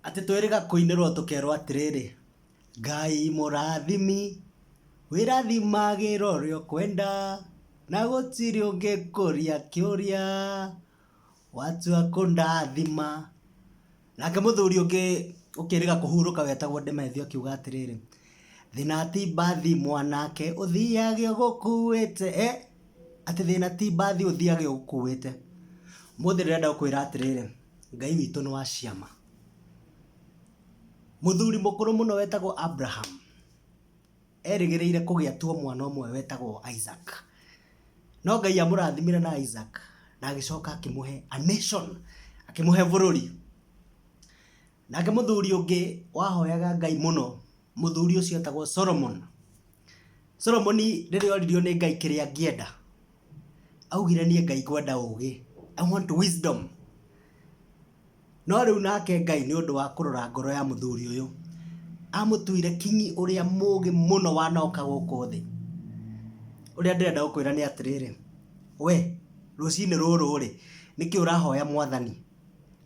Atĩ twĩrĩga kũinĩrwo tũkerwo atĩrĩrĩ, Ngai mũrathimi, wĩrathimagĩra ũrĩa ũkwenda, na gũtirĩ ũngĩkũria kĩũria, watua kũndathima. Nake mũthuri ũngĩ ũkĩrĩga kũhurũka wetagwo Ndemethio akiuga atĩrĩrĩ, Thĩna ti mbathi mwanake ũthiage ũgũkuĩte, eh, atĩ thĩna ti mbathi ũthiage ũgũkuĩte. Ũmũthĩ ndĩrenda gũkwĩra atĩrĩrĩ, Ngai witũ nĩ wa ciama. Mũthuri mũkũrũ mũno wetagwo Abraham, erĩgĩrĩire kũgĩa tu o mwana ũmwe wetagwo Isaac. No Ngai amũrathimire na Isaac, na agĩcoka akĩmũhe a nation, akĩmũhe bũrũri. Nake mũthuri ũngĩ wahoyaga Ngai mũno, mũthuri ũcio etagwo Solomon. Solomon rĩrĩa oririo nĩ Ngai kĩrĩa angĩenda, augire niĩ Ngai ngwenda ũgĩ, I want wisdom. No rĩu nake Ngai nĩ ũndũ wa kũrora ngoro ya mũthuri ũyũ, amũtuire kinyi ũrĩa mũgĩ mũno wanoka gũkũ thĩ. Ũrĩa ndĩrenda gũkwĩra nĩ atĩrĩrĩ, we rũcinĩ rũrũ-rĩ, nĩkĩ ũrahoya Mwathani?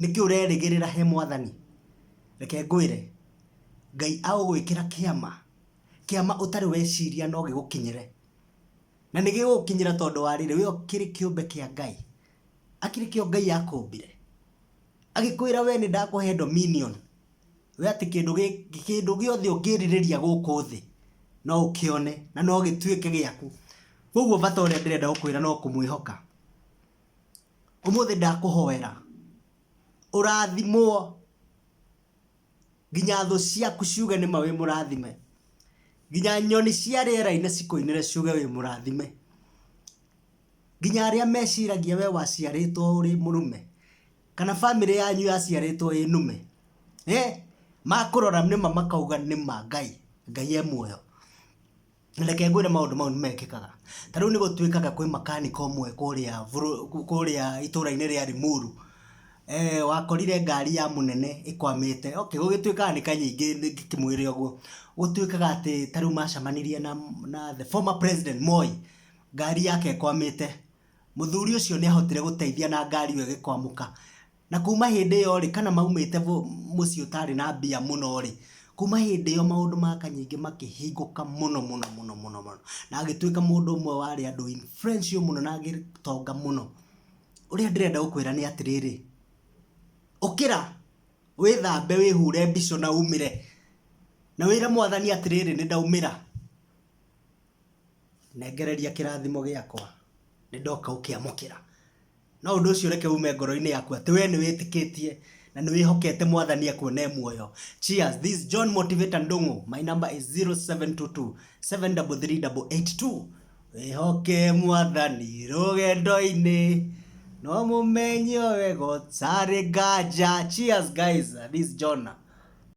Nĩkĩ ũrerĩgĩrĩra he mwathani? Reke ngwĩre, Ngai agũgwĩkĩra kĩama, kĩama ũtarĩ weciria no gĩgũkinyĩre. Na nĩ gĩgũgũkinyĩra tondũ wa rĩrĩ, we ũkĩrĩ kĩũmbe kĩa Ngai. Hakĩrĩ kĩo Ngai akũmbire. Agĩkwĩra we nĩndakũhe dominion, we atĩ kĩndũ kĩndũ gĩothe ũngĩrirĩria gũkũ thĩ, no ũkĩone na no gĩtuĩke gĩaku. Kũguo bata ũrĩa ndĩrenda gũkwĩra no kũmwĩhoka. Ũmũthĩ ndakũhoera ũrathimwo nginya thũ ciaku ciuge nĩ ma wĩ mũrathime, nginya nyoni cia rĩera-inĩ cikũinĩre ciuge wĩ mũrathime, nginya arĩa meciragia we waciarĩtwo ũrĩ mũrũme kana bamĩrĩ yanyu yaciarĩtwo ĩ nũme makũrora nĩ ma makauga nĩ ma Ngai, Ngai e muoyo. Reke ngwĩre maũndũ mau nĩmekĩkaga. Ta rĩu nĩgũtuĩkaga kwĩ makanika ũmwe kũrĩa kũrĩa itũra-inĩ rĩa Limuru, wakorire ngari ya mũnene ĩkwamĩte, okay gũgĩtuĩkaga nĩ kanyingĩ ngĩkĩmwĩre ũguo, gũtuĩkaga atĩ ta rĩu macemanirie na na the former president Moi, ngari yake ĩkwamĩte. Mũthuri ũcio nĩahotire gũteithia na ngari ĩyo ĩgĩkwamũka. Na kuuma hĩndĩ ĩyo-rĩ, kana maumĩte mũciĩ ũtarĩ na mbia mũno-rĩ, kuuma hĩndĩ ĩyo maũndũ ma Kanyingĩ makĩhingũka mũno mũno mũno mũno mũno. Na agĩtuĩka mũndũ ũmwe warĩ andũ influential mũno na agĩtonga mũno. Ũrĩa ndĩrenda gũkwĩra nĩ atĩrĩrĩ, ũkĩra, wĩthambe, wĩhũre mbica na umĩre, na wĩre Mwathani atĩrĩrĩ, nĩ ndaumĩra. Nengereria kĩrathimo gĩakwa, nĩ ndoka gũkĩamũkĩra. No ũndũ ũcio ũreke uume ngoro-inĩ yaku atĩ wee nĩ wĩtĩkĩtie na nĩ wĩhokete mwathani ekuona e muoyo. Cheers, this is John Motivator Ndung'u, my number is 0722-733-882. Wĩhoke mwathani rũgendo-inĩ, no mũmenye o wega ũtarĩ nganja. Cheers guys, this is John.